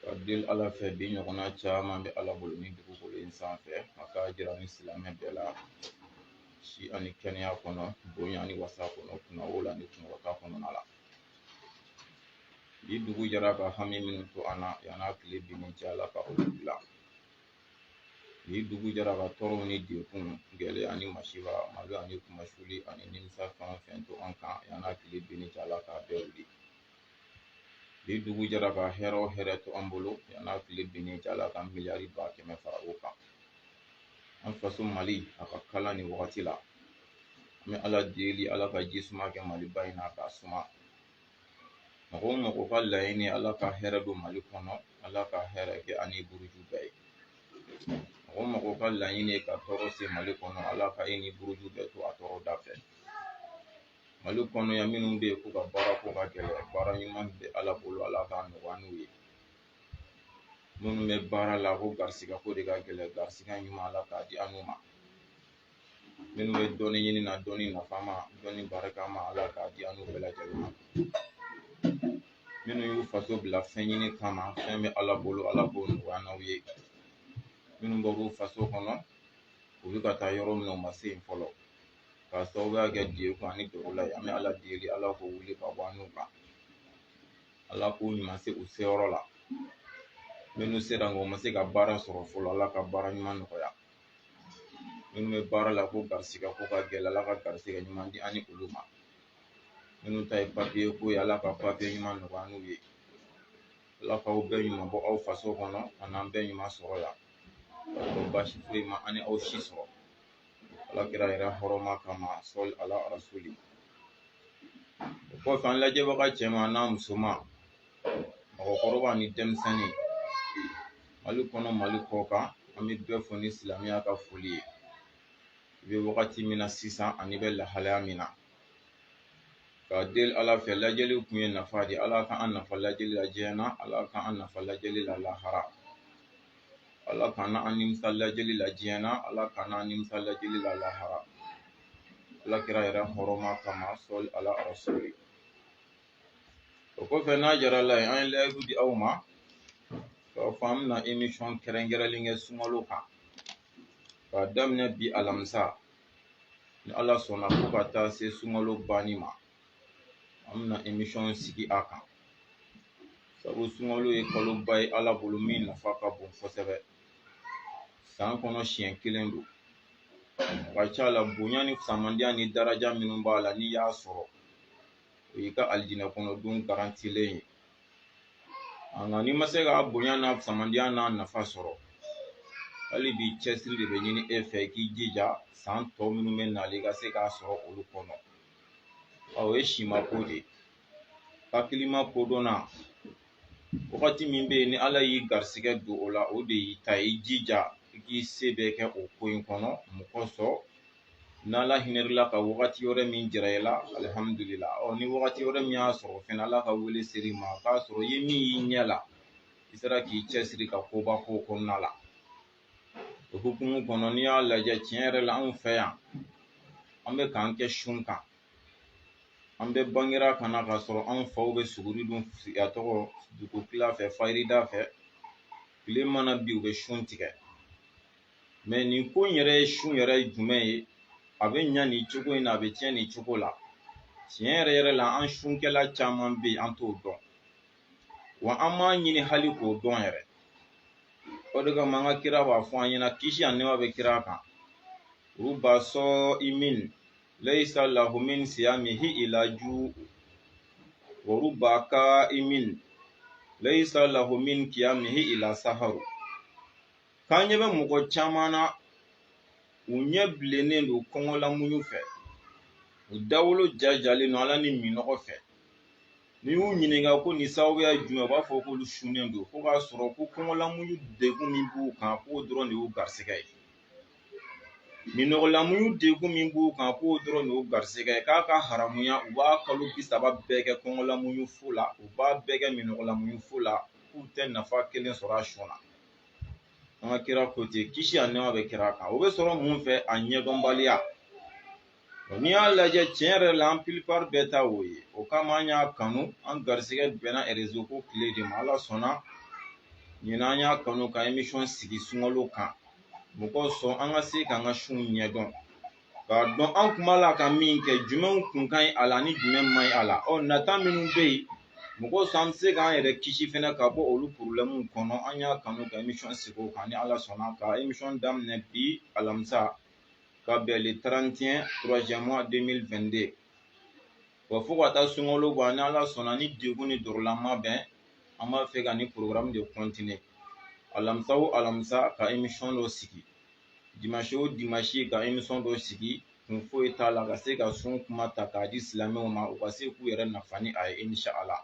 ka deli ala fɛ bi ɲɔgɔnna caman bɛ ala bolo ni dugukolo in sanfɛ a k'a jira ni silamɛ bɛɛ la si ani kɛnɛya kɔnɔ bonya ni wasa kɔnɔ kunnawolo ni kunkɔrɔta kɔnɔna la bi dugu jɛra ka hami minnu to an na yan'a tile binni cɛ ala ka olu dilan bi dugu jɛra ka tɔɔrɔw ni degun gɛlɛya ani masiba malo ani kunmasuli ani nimisa fɛn o fɛn to an kan yan'a tile binni cɛ ala k'a bɛɛ wuli bi dugu jɛra ka hɛrɛ o hɛrɛ to an bolo yan n'a tile binni cɛ ala ka miliyari ba kɛmɛ fara o kan an faso mali a ka kalan nin wagati la an bɛ ala deli ala ka ji suma kɛ maliba in na k'a suma mɔgɔ o mɔgɔ ka laɲini ala ka hɛrɛ don mali kɔnɔ ala ka hɛrɛ kɛ a ni buruju bɛɛ ye mɔgɔ mɔgɔ ka laɲini ye ka tɔɔrɔ se mali kɔnɔ ala ka e ni buruju bɛɛ to a tɔɔrɔ da fɛ Mali kɔnɔ yan minnu bɛ yen k'u ka baara ko ka gɛlɛn baara ɲuman bɛ Ala bolo Ala k'a nɔgɔya n'u ye minnu bɛ baara la ko garisigɛ ko de ka gɛlɛn garisigɛ ɲuman Ala k'a di an n'u ma minnu bɛ dɔnni ɲini na dɔnni nafama dɔnni barikama Ala k'a di an n'u bɛɛ lajɛlen ma minnu y'u faso bila fɛn ɲini kama fɛn bɛ Ala bolo Ala k'o nɔgɔya n'aw ye minnu bɔr'u faso kɔnɔ u bɛ ka taa yɔrɔ min na u ma se yen fɔlɔ k'a sababuya kɛ degun ani tɔɔrɔ la an bɛ ala deli ala k'o wuli ka bɔ an n'u kan ala k'u ɲuman se u seyɔrɔ la minnu sera nka u ma se ka baara sɔrɔ fɔlɔ ala ka baara ɲuman nɔgɔya minnu bɛ baara la ko garisigɛ ko ka gɛlɛn ala ka garisigɛ ɲuman di an ni olu ma minnu ta ye papiye ko ye ala ka papiye ɲuman nɔgɔya n'u ye ala k'aw bɛɛ ɲuman bɔ aw faso kɔnɔ ka n'an bɛɛ ɲuman sɔrɔ yan baasi foyi ma an ni aw si sɔrɔ alakira yɛrɛ hɔrɔma kama sɔli ala rasuli o kɔfɛ an lajɛbaga cɛman n'a musoman mɔgɔkɔrɔba ni denmisɛnnin mali kɔnɔ mali kɔkan an bɛ bɛɛ fo ni silamɛya ka foli ye i bɛ wagati min na sisan an'i bɛ lahalaya min na ka deli ala fɛ lajɛli kun ye nafa de ye ala ka an nafa lajɛli la diɲɛ na ala ka an nafa lajɛli la lahara ala kana an nimisa lajɛli la diɲɛ na ala kana an nimisa lajɛli la lahara alakira yɛrɛ hɔrɔma kama sɔli ala rasuli o kɔfɛ n'a jara ala ye an ye layidu di aw ma k'a fɔ an bɛna emisɔn kɛrɛnkɛrɛnlen kɛ sunkalo kan k'a daminɛ bi alamisa ni ala sɔnna fo ka taa se sunkalo banni ma an bɛna emisɔn sigi a kan sabu sunkalo ye kaloba ye ala bolo min nafa ka bon kosɛbɛ san kɔnɔ siɲɛ kelen don ka ca la bonya ni fisamandiya ni daraja minnu b'a la n'i y'a sɔrɔ o y'i ka alijinɛ kɔnɔ don garantilen ye nka n'i ma se k'a bonya n'a fisamandiya n'a nafa sɔrɔ hali bi cɛsiri de bɛ ɲini e fɛ i k'i jija san tɔ minnu bɛ nali ka se k'a sɔrɔ olu kɔnɔ o ye sima ko de ye hakilima kodɔnna wagati min bɛ yen ni ala y'i garisigɛ don o la o de y'i ta ye i jija i k'i se bɛɛ kɛ o ko in kɔnɔ mun kosɔn n'ala hinɛla ka wagati wɛrɛ min jira i la alihamudulila ɔ ni wagati wɛrɛ min y'a sɔrɔ fɛnɛ ala ka wele ser'i ma k'a sɔrɔ i ye min y'i ɲɛ la i sera k'i cɛsiri ka koba k'o kɔnɔna la o hukumu kɔnɔ n'i y'a lajɛ tiɲɛ yɛrɛ la anw fɛ yan an bɛ k'an kɛ sun kan an bɛ bangera ka na k'a sɔrɔ anw faw bɛ suguri dun a tɔgɔ dugu tila fɛ fajirida fɛ tile mana bi u bɛ sun tigɛ mɛ nin ko in yɛrɛ ye sun yɛrɛ ye jumɛn ye a bɛ ɲa nin cogo in na a bɛ tiɲɛ nin cogo la tiɲɛ yɛrɛ yɛrɛ la an sunkɛla caman bɛ yen an t'o dɔn wa an m'a ɲini hali k'o dɔn yɛrɛ o de kama an ka kira b'a fɔ an ɲɛna kisi ani nɛma bɛ kira kan ruba sɔɔimin layisa lahu min siyamihi ila juu wa ruba kaaimin layisa lahu min kiyamihi ila saharu k'an ɲɛ bɛ mɔgɔ caman na u ɲɛ bilennen don kɔngɔlamuɲu fɛ u dawolo jajalen don ala ni minnɔgɔ fɛ n'i y'u ɲininka ko nin sababuya jumɛn u b'a fɔ k'olu sunnen don ko k'a sɔrɔ ko kɔngɔlamuɲu degun min b'u kan k'o dɔrɔn de y'u garisɛgɛ ye minnɔgɔlamuɲu degun min b'u kan k'o dɔrɔn de y'u garisɛgɛ ye k'a ka haramuya u b'a kalo bi saba bɛɛ kɛ kɔngɔlamuɲu fu la u b'a bɛɛ kɛ minnɔgɔlamuɲu fu la k'u tɛ nafa kelen sɔrɔ a sun na an ka kira ko ten kisi ani nɛma bɛ kira kan o bɛ sɔrɔ mun fɛ a ɲɛdɔnbaliya n'i y'a lajɛ tiɲɛ yɛrɛ la an pilipari bɛɛ ta o ye o kama an y'a kanu an garisigɛ bɛnna erezo ko tile de ma ala sɔnna ɲinan an y'a kanu ka emisɔn sigi sunkalo kan mun kosɔn an ka se k'an ka sunw ɲɛdɔn k'a dɔn an kun b'a la ka min kɛ jumɛnw kun ka ɲi a la ni jumɛn man ɲi a la ɔ nata minnu bɛ yen mun kosɔn an bɛ se k'an yɛrɛ kisi fɛnɛ ka bɔ olu porobilɛmuw kɔnɔ an y'a kanu ka emisɔn sigi o kan ni ala sɔnna ka emisɔn daminɛ bi alamisa ka bɛn le 31 troisième mois 2022 wa fo ka taa sunkalo ban ni ala sɔnna ni degun ni dɔrula ma bɛn an b'a fɛ ka nin porogaramu de kɔntine alamisa o alamisa ka emisɔn dɔ sigi dimanche o dimanche ka emisɔn dɔ sigi kun foyi t'a la ka se ka sun kuma ta k'a di silamɛw ma u ka se k'u yɛrɛ nafa ni a ye insha ala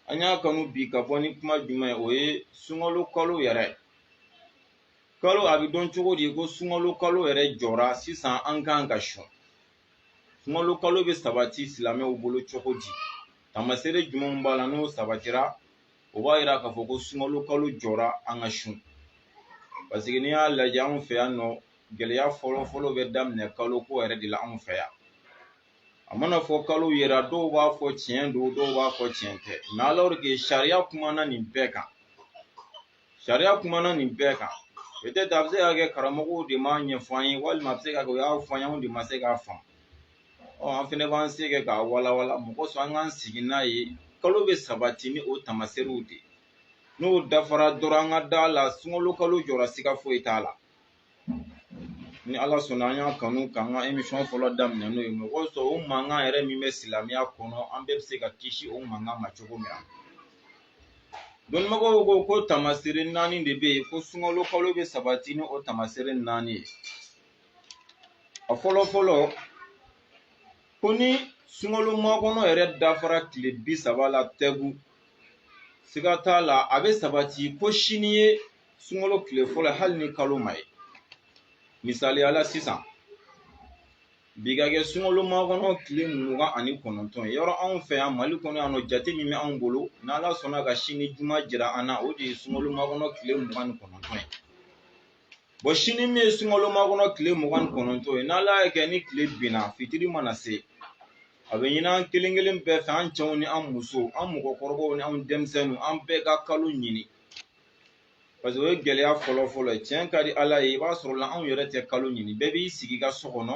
an y'a kanu bi ka bɔ ni kuma jumɛn ye o ye sunkalo kalo yɛrɛ kalo a bɛ dɔn cogo di ko sunkalo kalo yɛrɛ jɔra sisan an kan ka sun sunkalo kalo bɛ sabati silamɛw bolo cogo di tamaseere jumɛnw b'a la n'o sabatira o b'a yira k'a fɔ ko sunkalo kalo jɔra an ka sun paseke n'i y'a lajɛ anw fɛ yan nɔ gɛlɛya fɔlɔ fɔlɔ bɛ daminɛ kalo ko yɛrɛ de la anw fɛ yan a mana fɔ kalo yera dɔw b'a fɔ tiɲɛ don dɔw b'a fɔ tiɲɛ tɛ mɛ alors que sariya kumana nin bɛɛ kan sariya kumana nin bɛɛ kan peut-être a bɛ se ka kɛ karamɔgɔw de m'a ɲɛfɔ an ye walima a bɛ se ka kɛ u y'a fɔ an ye anw de ma se k'a faamu ɔ an fɛnɛ b'an se kɛ k'a walawala mɔgɔ sɔn an k'an sigi n'a ye kalo bɛ sabati ni o tamaserew de ye n'o dafara dɔrɔn an ka da a la sunkalo kalo jɔra siga foyi t'a la ni ala sɔnna an y'a kanu k'an ka emisɔn fɔlɔ daminɛ n'o ye mɔgɔ sɔrɔ o mankan yɛrɛ min bɛ silamɛya kɔnɔ an bɛɛ bɛ se ka kisi o mankan ma cogo min na dɔnnibagaw ko ko tamasere naani de bɛ yen ko sunkalo kalo bɛ sabati ni o tamasere naani ye a fɔlɔ fɔlɔ ko ni sunkalomakɔnɔ yɛrɛ dafara tile bi saba la tɛgu siga t'a la a bɛ sabati ko sini ye sunkalo tile fɔlɔ hali ni kalo ma ye misaliya la sisan bi ka kɛ sunkalomakɔnɔ tile mugan ani kɔnɔntɔn ye yɔrɔ anw fɛ yan mali kɔnɔ yan nɔ jate min bɛ anw bolo n'ala sɔnna ka sini juma jira an na o de ye sunkalomakɔnɔ tile mugan ni kɔnɔntɔn ye bɔn sini min ye sunkalomakɔnɔ tile mugan ni kɔnɔntɔn ye n'ala y'a kɛ ni tile binna fitiri mana se a bɛ ɲini an kelen kelen bɛɛ fɛ an cɛw ni an musow an mɔgɔkɔrɔbaw ni an denmisɛnninw an bɛɛ ka kalo ɲini parce que o ye gɛlɛya fɔlɔ fɔlɔ ye tiɲɛ ka di ala ye i b'a sɔrɔ la anw yɛrɛ tɛ kalo ɲini bɛɛ b'i sigi i ka so kɔnɔ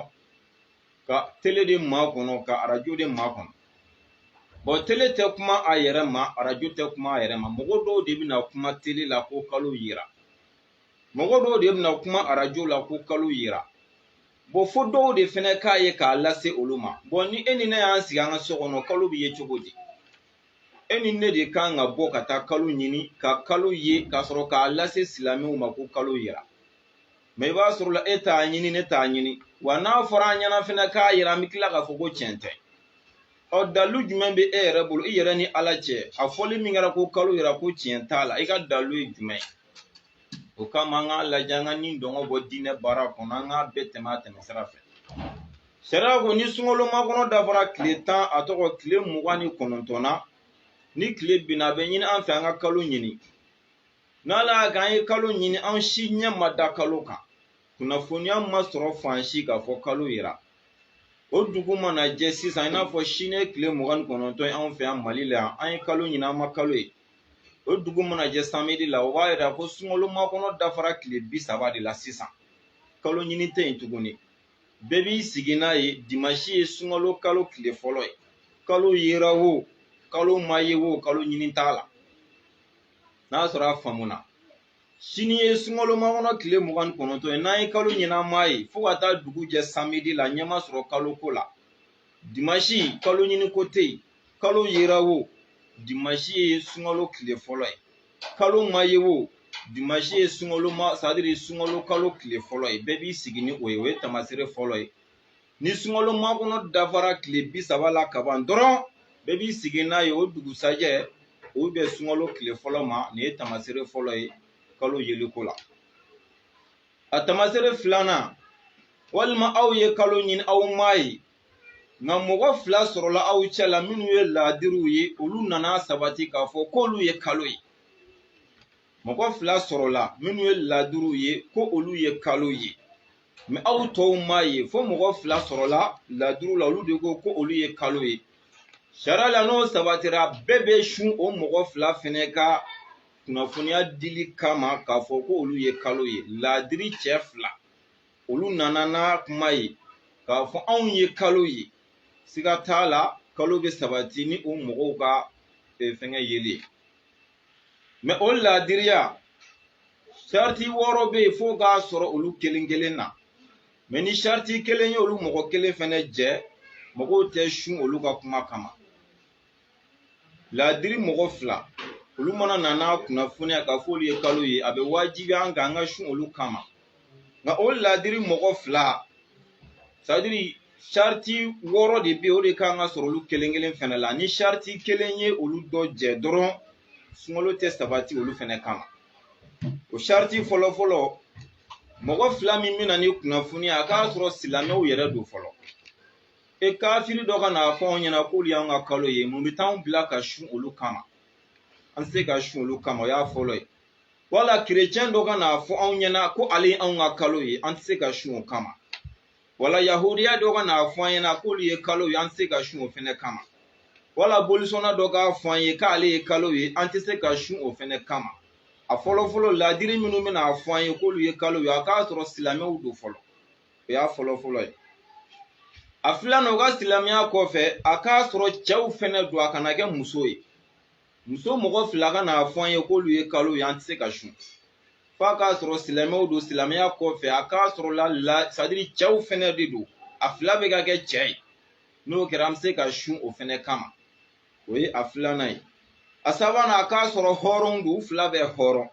ka tele de makɔnɔ ka arajo de makɔnɔ bɔn tele tɛ kuma a yɛrɛ ma arajo tɛ kuma a yɛrɛ ma mɔgɔ dɔw de bɛna kuma tele la ko kalo yera mɔgɔ dɔw de bɛna kuma arajo la ko kalo yera bɔn fo dɔw de fɛnɛ k'a ye k'a lase olu ma bɔn ni e ni ne y'an sigi an ka so kɔnɔ kalo bɛ ye cogo di e ni ne de kan ka bɔ ka taa kalo ɲini ka kalo ye k'a sɔrɔ k'a lase silamɛw ma ko kalo yera mɛ i b'a sɔrɔ la e t'a ɲini ne t'a ɲini wa n'a fɔra an ɲɛ na fɛnɛ k'a yera an bɛ tila k'a fɔ ko tiɲɛ tɛ ɔ dalu jumɛn bɛ e yɛrɛ bolo i yɛrɛ ni ala cɛ a fɔli min kɛra ko kalo yera ko tiɲɛ t'a la i ka dalu ye jumɛn ye o kama an k'a lajɛ an ka ni dɔngɔ bɔ diinɛ baara kɔnɔ an k'a bɛɛ tɛmɛ a tɛmɛ sira fɛ sariya ko ni sunkalo makɔnɔ dafara tile tan a tɔgɔ tile mugan ni kɔnɔntɔn na ni tile binna a bɛ ɲini an fɛ an ka kalo ɲini n'ala y'a kɛ an ye kalo ɲini an si ɲɛ ma da kalo kan kunnafoniya ma sɔrɔ fan si k'a fɔ kalo yera o dugu mana jɛ sisan i n'a fɔ sini ye tile mugan ni kɔnɔntɔn ye anw fɛ yan mali la yan an ye kalo ɲini an ma kalo ye o dugu mana jɛ samedi la o b'a yira ko sunkalo makɔnɔ dafara tile bi saba de la sisan kalo ɲini tɛ yen tuguni bɛɛ b'i sigi n'a ye dimansi ye sunkalo kalo tile fɔlɔ ye kalo yera wo kalo ma ye wo kalo ɲini t'a la n'a sɔrɔ a faamuna sini ye sunkalo makɔnɔ tile mugan ni kɔnɔntɔn ye n'an ye kalo ɲini an m'a ye fo ka taa dugu jɛ samedi la ɲɛ ma sɔrɔ kalo ko la dimansi kalo ɲini ko tɛ yen kalo yera wo dimansi ye sunkalo tile fɔlɔ ye kalo ma ye wo dimansi ye sunkalo ma sadiri sunkalo kalo tile fɔlɔ ye bɛɛ b'i sigi ni o ye o ye tamasere fɔlɔ ye ni sunkalo makɔnɔ dafara tile bi saba la kaban dɔrɔn bɛɛ b'i sigi n'a ye o dugusajɛ o bɛ sunkalo tile fɔlɔ ma nin ye tamasere fɔlɔ ye kalo yeliko la a tamasere filanan walima aw ye kalo ɲini aw m'a ye nka mɔgɔ fila sɔrɔla aw cɛ la minnu ye laadiriw ye olu nan'a sabati k'a fɔ k'olu ye kalo ye mɔgɔ fila sɔrɔla minnu ye laadiriw ye ko olu ye kalo ye mɛ aw tɔw m'a ye fo mɔgɔ fila sɔrɔla laadiriw la olu de ko ko olu ye kalo ye sariya la n'o sabatira bɛɛ bɛ sun o mɔgɔ fila fɛnɛ ka kunnafoniya dili kama k'a fɔ ko olu ye kalo ye laadiri cɛ fila olu nana n'a kuma ye k'a fɔ anw ye kalo ye siga t'a la kalo bɛ sabati ni o mɔgɔw ka e, fɛngɛ yeli mɛ o laadiriya sariti wɔɔrɔ bɛ yen fo k'a sɔrɔ olu kelen kelen na mɛ ni sariti kelen ye olu mɔgɔ kelen fɛnɛ jɛ mɔgɔw tɛ sun olu ka kuma kama laadiri mɔgɔ fila olu mana na n'a kunnafoniya k'a fɔ olu ye kalo ye a bɛ wajibiya an kan an ka sun olu kama nka o laadiri mɔgɔ fila sadiri sariti wɔɔrɔ de bɛ yen o de kan ka sɔrɔ olu kelen kelen fɛnɛ la ni sariti kelen ye olu dɔ jɛ dɔrɔn sunkalo tɛ sabati olu fɛnɛ kama o sariti fɔlɔ fɔlɔ mɔgɔ fila min bɛ na ni kunnafoni ye a k'a sɔrɔ silamɛw yɛrɛ don fɔlɔ e kafiri dɔ ka n'a fɔ anw ɲɛna k'olu y'an ka kalo ye mun bɛ t'anw bila ka sun olu kama an tɛ se ka sun olu kama o y'a fɔlɔ ye wala kerecɛn dɔ ka n'a fɔ anw ɲɛna ko ale ye anw ka kalo ye an tɛ se ka sun o kama wala yahudiya dɔ ka n'a fɔ an ɲɛna k'olu ye kalo ye an tɛ se ka sun o fɛnɛ kama wala bolisɔnna dɔ k'a fɔ an ye k'ale ye kalo ye an tɛ se ka sun o fɛnɛ kama a fɔlɔfɔlɔ ladiri minnu bɛna a fɔ an ye k'olu ye kalo ye a k'a sɔrɔ silamɛw don fɔlɔ o y'a fɔlɔ fɔlɔ ye a filanan u ka silamɛya kɔfɛ a k'a sɔrɔ cɛw fɛnɛ don a kana kɛ muso ye muso mɔgɔ fila ka n'a fɔ an ye k'olu ye kalo ye an tɛ se ka sun f'a k'a sɔrɔ silamɛw don silamɛya kɔfɛ a k'a sɔrɔ la la sadiri cɛw fɛnɛ de don a fila bɛɛ ka kɛ cɛ ye n'o kɛra an bɛ se ka sun o fɛnɛ kama o ye a filanan ye a sabanan a k'a sɔrɔ hɔrɔn don u fila bɛɛ hɔrɔn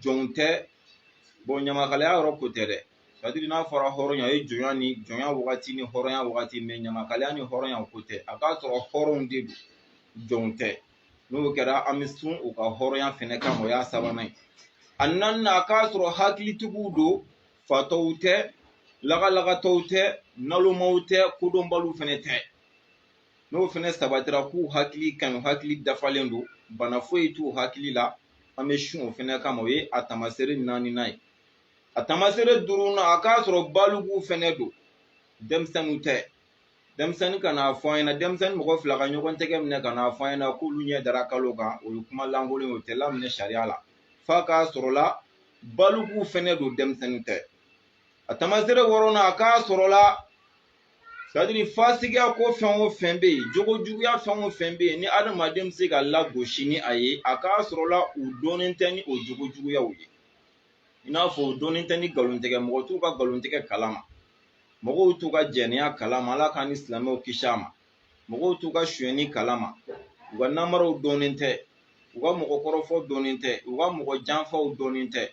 jɔnw tɛ bon ɲamakalaya yɔrɔ ko tɛ dɛ sadiri n'a fɔra hɔrɔnya ye jɔnya ni jɔnya wagati ni hɔrɔnya wagati mais ɲamakalaya ni hɔrɔnya ko tɛ a k'a sɔrɔ hɔrɔnw de don jɔnw tɛ n'o kɛra an bɛ sun u ka hɔrɔnya fɛnɛ kama o y'a sabanan ye a naaninan a k'a sɔrɔ hakilitigiw don fatɔw tɛ lagalagatɔw tɛ nalomaw tɛ kodɔnbaliw fɛnɛ tɛ n'o fɛnɛ sabatira k'u hakili ka ɲi hakili dafalen don bana foyi t'u hakili la an bɛ sun o fɛnɛ kama o ye a tamaseere naaninan ye a tamaseere duurunan a k'a sɔrɔ balikuw fɛnɛ don denmisɛnninw tɛ denmisɛnnin ka n'a fɔ an ɲɛna denmisɛnnin mɔgɔ fila ka ɲɔgɔn tɛgɛ minɛ ka n'a fɔ an ɲɛna k'olu ɲɛ dara kalo kan o ye kuma lankolon ye o tɛ laminɛ sariya la f'a k'a sɔrɔla balikuw fɛnɛ don denmisɛnninw tɛ a tamaseere wɔɔrɔnan a k'a sɔrɔla sadiri fasigiya ko fɛn o fɛn bɛ yen jogo juguya fɛn o fɛn bɛ yen ni adamaden bɛ se ka lagosi ni a ye a k'a sɔrɔla u dɔnnen tɛ ni o jogo juguyaw ye i n'a fɔ u dɔnnen tɛ ni nkalontigɛ mɔgɔ t'u ka nkalontigɛ kalama mɔgɔw t'u ka jɛnɛya kalama ala k'an ni silamɛw kisi a ma mɔgɔw t'u ka sonyɛni kalama u ka namaraw dɔnnen tɛ u ka mɔgɔkɔrɔfɔw dɔnnen tɛ u ka mɔgɔ janfaw dɔnnen tɛ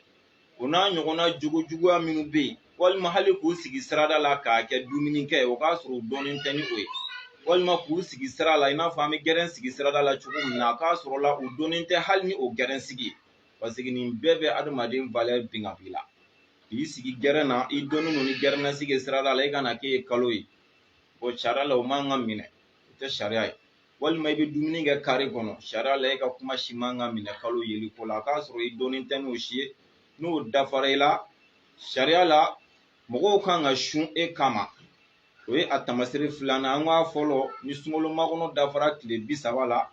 o n'a ɲɔgɔnna jogo juguya minnu bɛ yen walima hali k'u sigi sirada la k'a kɛ dumuni kɛ o k'a sɔrɔ u dɔnnen tɛ ni o ye walima k'u sigi sira la i n'a fɔ an bɛ gɛrɛn sigi sirada la cogo min na a k'a sɔrɔ la u dɔnnen tɛ hali ni o gɛrɛn sigi parce que nin bɛɛ bɛ adamaden valeur bin ka b'i la k'i sigi gɛrɛn na i dɔnnen don ni gɛrɛn na sigi sirada la i ka na k'e ye kalo ye o sariya la o man ka minɛ o tɛ sariya ye walima i bɛ dumuni kɛ kare kɔnɔ sariya la e ka kuma si man ka minɛ kalo yeli ko la a k'a sɔrɔ i dɔnnen tɛ n'o si ye n'o dafara i la sariya la mɔgɔw kan ka sun e kama o ye a tamaseere filanan an k'a fɔlɔ ni sunkalo makɔnɔ dafara tile bi saba la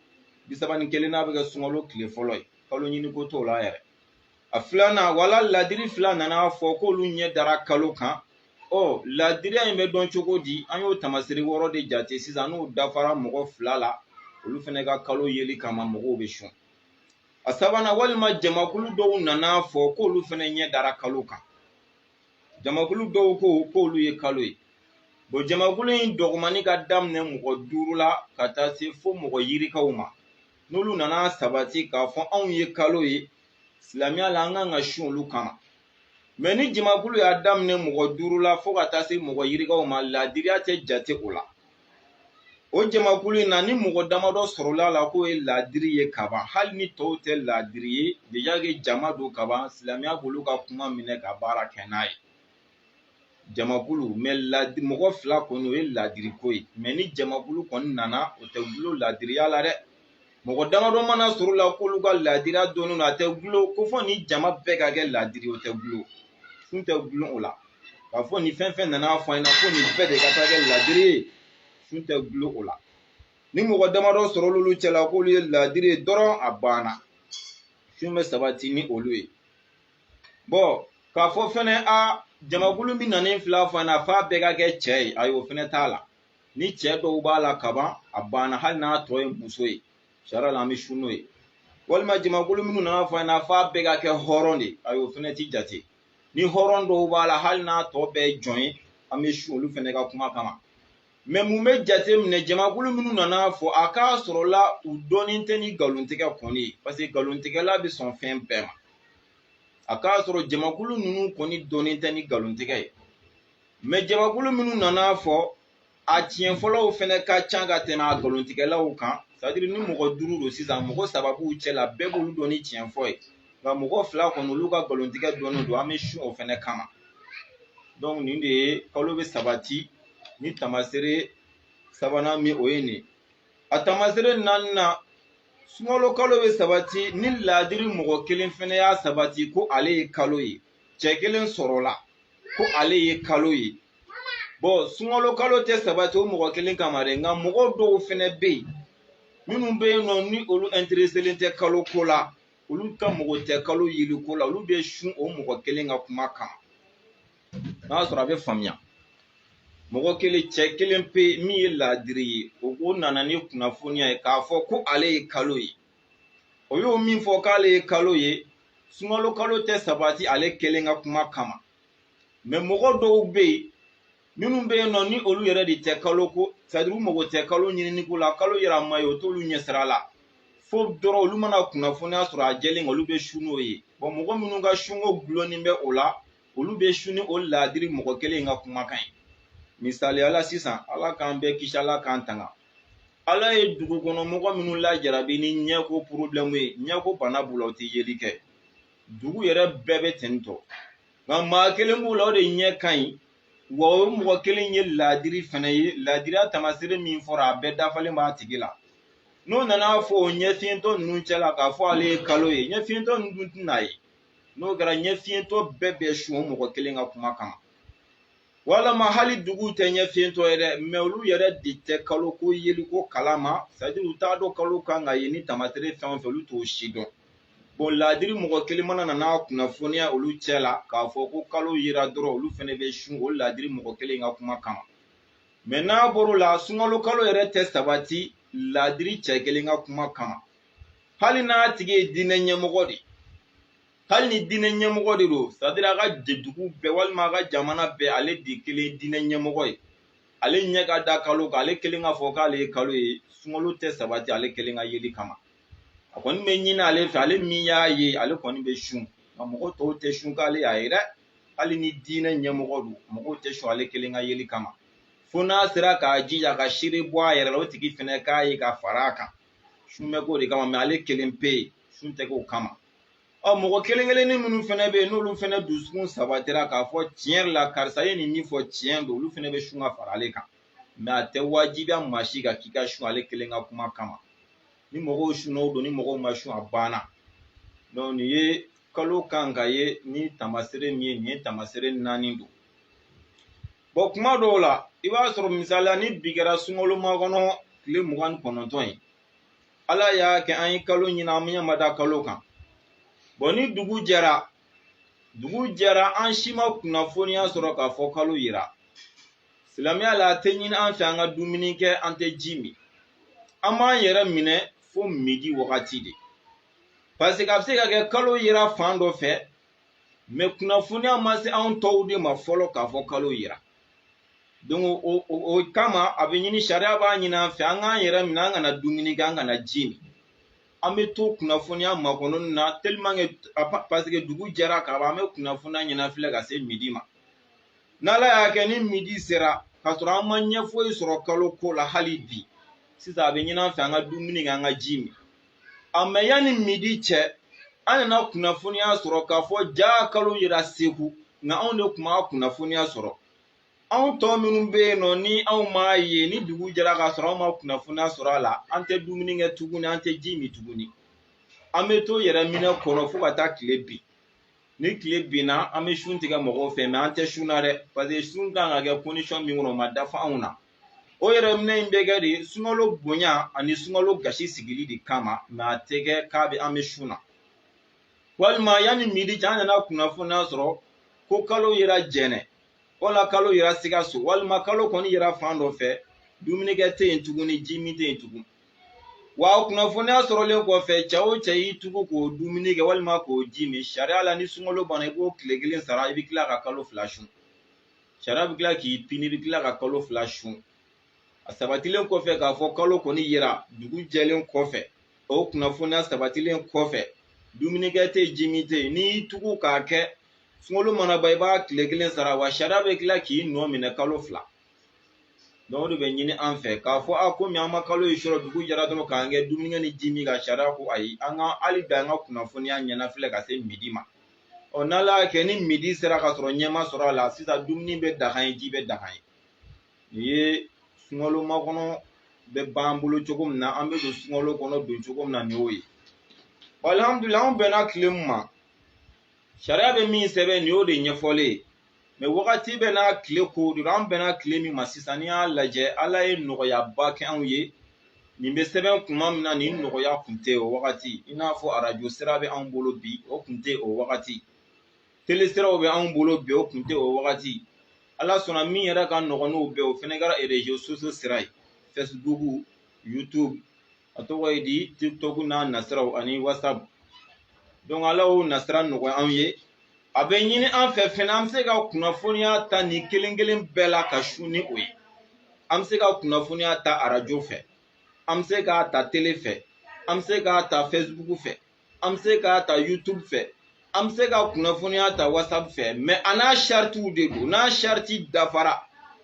bi saba ni kelennan bɛ kɛ sunkalo tile fɔlɔ ye kalo ɲini ko t'o la yɛrɛ a filanan wala ladiri fila nana fɔ k'olu ɲɛ dara kalo kan ɔ ladiriya in bɛ dɔn cogo di an y'o tamasiri wɔɔrɔ de jate sisan n'o dafara mɔgɔ fila la olu fɛnɛ ka kalo yeli kama mɔgɔw bɛ sun a sabanan walima jamakulu dɔw nana fɔ k'olu fɛnɛ ɲɛ dara kalo kan jamakulu dɔw ko k'olu ye kalo ye bon jamakulu in dɔgɔmani ka daminɛ mɔgɔ duuru la ka taa se fo mɔgɔ yirikaw ma n'olu nana sabati k'a fɔ anw ye kalo ye silamɛya la an kan ka sun olu kama mais ni jamakulu y'a daminɛ mɔgɔ duuru la fo ka taa se mɔgɔ yirikaw ma ladiriya tɛ jate o la o jamakulu in na ni mɔgɔ damadɔ sɔrɔla la k'o ye ladiri ye kaban hali ni tɔw tɛ ladiri ye déjà que jama don kaban silamɛya b'olu ka kuma minɛ ka baara kɛ n'a ye jamakulu mais ladi mɔgɔ fila kɔni o ye ladiri ko ye mais ni jamakulu kɔni nana o tɛ gulo ladiriya la dɛ mɔgɔ damadɔ mana sɔrɔ la k'olu ka ladiriya dɔnnen don a tɛ gulo ko fɔ ni jama bɛɛ ka kɛ ladiri o tɛ gulo sun tɛ gulon o la k'a fɔ ni fɛn fɛn nana fɔ an ɲɛna ko nin bɛɛ de ka taa kɛ ladiri ye sun tɛ gulon o la ni mɔgɔ damadɔ sɔrɔla olu cɛla k'olu ye ladiri ye dɔrɔn a banna sun bɛ sabati ni olu ye bon k'a fɔ fɛnɛ a jamakulu min nanen fil'a fɔ an ɲɛna f'a bɛɛ ka kɛ cɛ ye ayi o fɛnɛ t'a la ni cɛ dɔw b'a la kaban a banna hali n'a tɔ ye muso ye sariya la an bɛ sun n'o ye walima jamakulu minnu nana fɔ an ɲɛna f'a bɛɛ ka kɛ hɔrɔn de ayi o fɛnɛ ti jate ni hɔrɔn dɔw b'a la hali n'a tɔ bɛɛ ye jɔn ye an bɛ sun olu fɛnɛ ka kuma kama mais mun bɛ jate minɛ jamakulu minnu nana fɔ a k'a sɔrɔ la u dɔnnen tɛ ni nkalontigɛ kɔni ye parce que nkalontigɛla bɛ sɔn fɛn bɛɛ ma a k'a sɔrɔ jamakulu ninnu kɔni dɔnnen tɛ ni nkalontigɛ ye mais jamakulu minnu nana fɔ a tiɲɛfɔlaw fɛnɛ ka ca ka tɛmɛ a nkalontigɛlaw kan c'est-à-dire ni mɔgɔ duuru don sisan mɔgɔ saba b'u cɛ la bɛɛ b'olu dɔn ni tiɲɛ fɔ ye nka mɔgɔ fila kɔni olu ka nkalontigɛ dɔnnen don an bɛ sun o fɛnɛ kama donc nin de ye kalo bɛ sabati ni tamasere sabanan min o ye nin a tamasere naaninan sunkalo kalo bɛ sabati ni ladiri mɔgɔ kelen fɛnɛ y'a sabati ko ale ye kalo ye cɛ kelen sɔrɔla ko ale ye kalo ye bon sunkalo kalo tɛ sabati o mɔgɔ kelen kama dɛ nka mɔgɔ dɔw fɛnɛ bɛ yen minnu bɛ yen nɔ ni olu intéresselen tɛ kalo ko la olu ka mɔgɔ tɛ kalo yeli ko la olu bɛ sun o mɔgɔ kelen ka kuma kama n'a y'a sɔrɔ a bɛ faamuya mɔgɔ kelen cɛ kelen pe min ye laadiri ye o ko nana ni kunnafoniya ye k'a fɔ ko ale ye kalo ye o y'o min fɔ k'ale ye kalo ye sunkalo kalo tɛ sabati ale kelen ka kuma kama mɛ mɔgɔ dɔw bɛ yen minnu bɛ yen nɔ ni olu yɛrɛ de tɛ kalo ko sadiri u mago tɛ kalo ɲinini ko la kalo yera a ma ye o t'olu ɲɛsira la fo dɔrɔn olu mana kunnafoniya sɔrɔ a jɛlen olu bɛ sun n'o ye bɔn mɔgɔ minnu ka sunko gulonnen bɛ o la olu bɛ sun ni o laadiri mɔgɔ kelen in ka kumakan ye misaliya la sisan ala k'an bɛɛ kisi ala k'an tanga ala ye dugu kɔnɔ mɔgɔ minnu lajarabi ni ɲɛko porobilɛmu ye ɲɛko bana b'u la u tɛ yeli kɛ dugu yɛrɛ bɛɛ bɛ ten tɔ nka maa kelen b'u la o de ɲɛ ka ɲi wa o mɔgɔ kelen ye laadiri fɛnɛ ye laadiriya tamasere min fɔra a bɛɛ dafalen b'a tigi la n'o nan'a fɔ o ɲɛfiyentɔ ninnu cɛla k'a fɔ ale ye kalo ye ɲɛfiyentɔ ninnu dun tɛn'a ye n'o kɛra ɲɛfiyentɔ bɛɛ bɛ sun o mɔgɔ kelen ka kuma kama walama hali dugu tɛ ɲɛfiyentɔ ye dɛ mɛ olu yɛrɛ de tɛ kalo ko yeli ko kalama sadiri u t'a dɔn kalo kan ka ye ni tamasere fɛn o fɛn olu t'o si dɔn bɔn laadiri mɔgɔ kelen mana na n'a kunnafoniya olu cɛ la k'a fɔ ko kalo yera dɔrɔn olu fɛnɛ bɛ sun o laadiri mɔgɔ kelen ka kuma kama mɛ n'a bɔr'o la sunkalo kalo yɛrɛ tɛ sabati laadiri cɛ kelen ka kuma kama hali n'a tigi ye diinɛ ɲɛmɔgɔ de ye hali ni diinɛ ɲɛmɔgɔ de don sadiri a ka dugu bɛɛ walima a ka jamana bɛɛ ale de kelen ye diinɛ ɲɛmɔgɔ ye ale ɲɛ ka da kalo kan ale kelen k'a fɔ k'ale ye kalo ye sunkalo tɛ sabati ale kelen ka yeli kama a kɔni bɛ ɲini ale fɛ ale min y'a ye ale kɔni bɛ sun nka mɔgɔ tɔw tɛ sun k'ale y'a ye dɛ hali ni diinɛ ɲɛmɔgɔ don mɔgɔw tɛ sun ale kelen ka yeli kama fo n'a sera k'a jija ka seere bɔ a yɛrɛ la o tigi fɛnɛ k'a ye ka fara a kan sun bɛ k'o de kama mɛ ale kelen pe ye sun tɛ k'o kama ɔ mɔgɔ kelen kelennin minnu fɛnɛ bɛ yen n'olu fɛnɛ dusukun sabatira k'a fɔ tiɲɛ yɛrɛ la karisa ye nin min fɔ tiɲɛ don olu fɛnɛ bɛ sun ka fara ale kan mɛ a tɛ wajibiya maa si kan k'i ka sun ale kelen ka kuma kama ni mɔgɔw sunna o don ni mɔgɔw ma sun a banna dɔn nin ye kalo kan ka ye ni tamasere min ye nin ye tamasere naani don bɔn kuma dɔw la i b'a sɔrɔ misaliya ni bi kɛra sunkalo makɔnɔ tile mugan ni kɔnɔntɔn ye ala y'a kɛ an ye kalo ɲini an ɲɛ ma da kalo kan bɔn ni dugu jɛra dugu jɛra an si ma kunnafoniya sɔrɔ k'a fɔ kalo yira silamɛya la a tɛ ɲini an fɛ an ka dumuni kɛ an tɛ ji min an b'an yɛrɛ minɛ fo midi wagati de parce que a bɛ se ka kɛ kalo yera fan dɔ fɛ mais kunnafoniya ma se anw tɔw de ma fɔlɔ k'a fɔ kalo yera donc o kama a bɛ ɲini sariya b'a ɲini an fɛ an k'an yɛrɛ minɛ an kana dumuni kɛ an kana ji min an bɛ to kunnafoniya makɔnɔni na tellement que parce que dugu jɛra ka ban an bɛ kunnafoniya ɲɛnafilɛ ka se midi ma n'ala y'a kɛ ni midi sera k'a sɔrɔ an ma ɲɛ foyi sɔrɔ kalo ko la hali bi sisan a bɛ ɲini an fɛ an ka dumuni kɛ an ka ji min a mais yanni midi cɛ an nana kunnafoniya sɔrɔ k'a fɔ jaa kalo yera segu nka anw de tun m'a kunnafoniya sɔrɔ anw tɔ minnu bɛ yen nɔ ni anw m'a ye ni dugu jɛra k'a sɔrɔ anw ma kunnafoniya sɔrɔ a la an tɛ dumuni kɛ tuguni an tɛ ji min tuguni an bɛ to yɛrɛ minɛ kɔnɔ fo ka taa tile bin ni tile binna an bɛ sun tigɛ mɔgɔw fɛ mais an tɛ sun na dɛ parce que sun kan ka kɛ condition min kɔnɔ o ma dafa anw na o yɛrɛ minɛ in bɛ kɛ de sunkalo bonya ani sunkalo gasi sigili de kama mais a tɛ kɛ k'a bɛ an bɛ sun na walima yanni midi cɛ an nana kunnafoniya sɔrɔ ko kalo yera jɛnɛ wala kalo yera sikaso walima kalo kɔni yera fan dɔ fɛ dumunikɛ tɛ yen tuguni ji min tɛ yen tugun wa kunnafoniya sɔrɔlen kɔfɛ cɛ o cɛ y'i tugu k'o dumuni kɛ walima k'o ji min sariya la ni sunkalo banna i b'o tile kelen sara i bɛ tila ka kalo fila sun sariya bɛ tila k'i pini i bɛ tila ka kalo fila sun a sabatilen kɔfɛ k'a fɔ kalo kɔni yera dugu jɛlen kɔfɛ o kunnafoniya sabatilen kɔfɛ dumunikɛ tɛ ji min tɛ yen n'i y'i tugu k'a kɛ sunkalo mana ban i b'a tile kelen sara wa sariya bɛ tila k'i nɔ minɛ kalo fila donc o de bɛ ɲini an fɛ k'a fɔ a komi an ma kalo in sɔrɔ dugu jɛra dɔrɔn k'an kɛ dumunikɛ ni ji min kan sariya ko ayi an ka hali bi an ka kunnafoniya ɲɛnafilɛ ka se midi ma ɔ n'ala y'a kɛ ni midi sera k'a sɔrɔ ɲɛ ma sɔrɔ a la sisan dumuni bɛ daga an ye ji bɛ daga an ye nin ye sunkalo makɔnɔ bɛ b'an bolo cogo min na an bɛ don sunkalo kɔnɔ don cogo min na nin y'o ye alihamudulilayi anw bɛnna tile min ma sariya bɛ min sɛbɛn nin y'o de ɲɛfɔlen ye mais wagati bɛɛ n'a tile ko don an bɛnna tile min ma sisan n'i y'a lajɛ ala ye nɔgɔyaba kɛ anw ye nin bɛ sɛbɛn kuma min na nin nɔgɔya kun tɛ o wagati i n'a fɔ arajo sira bɛ anw bolo bi o kun tɛ o wagati tele siraw bɛ anw bolo bi o kun tɛ o wagati ala sɔnna min yɛrɛ ka nɔgɔn n'o bɛɛ o fɛnɛ kɛra réseaux sociaux sira ye facebook youtube a tɔgɔ ye di tiktok n'a nasiraw ani whatsapp donc ala y'o nasira nɔgɔya anw ye a bɛ ɲini an fɛ fɛnɛ an bɛ se ka kunnafoniya ta nin kelen kelen bɛɛ la ka sun ni o ye an bɛ se ka kunnafoniya ta arajo fɛ an bɛ se k'a ta tele fɛ an bɛ se k'a ta facebook fɛ an bɛ se k'a ta youtube fɛ an bɛ se ka kunnafoniya ta whatsapp fɛ mais a n'a saritiw de don n'a sariti dafara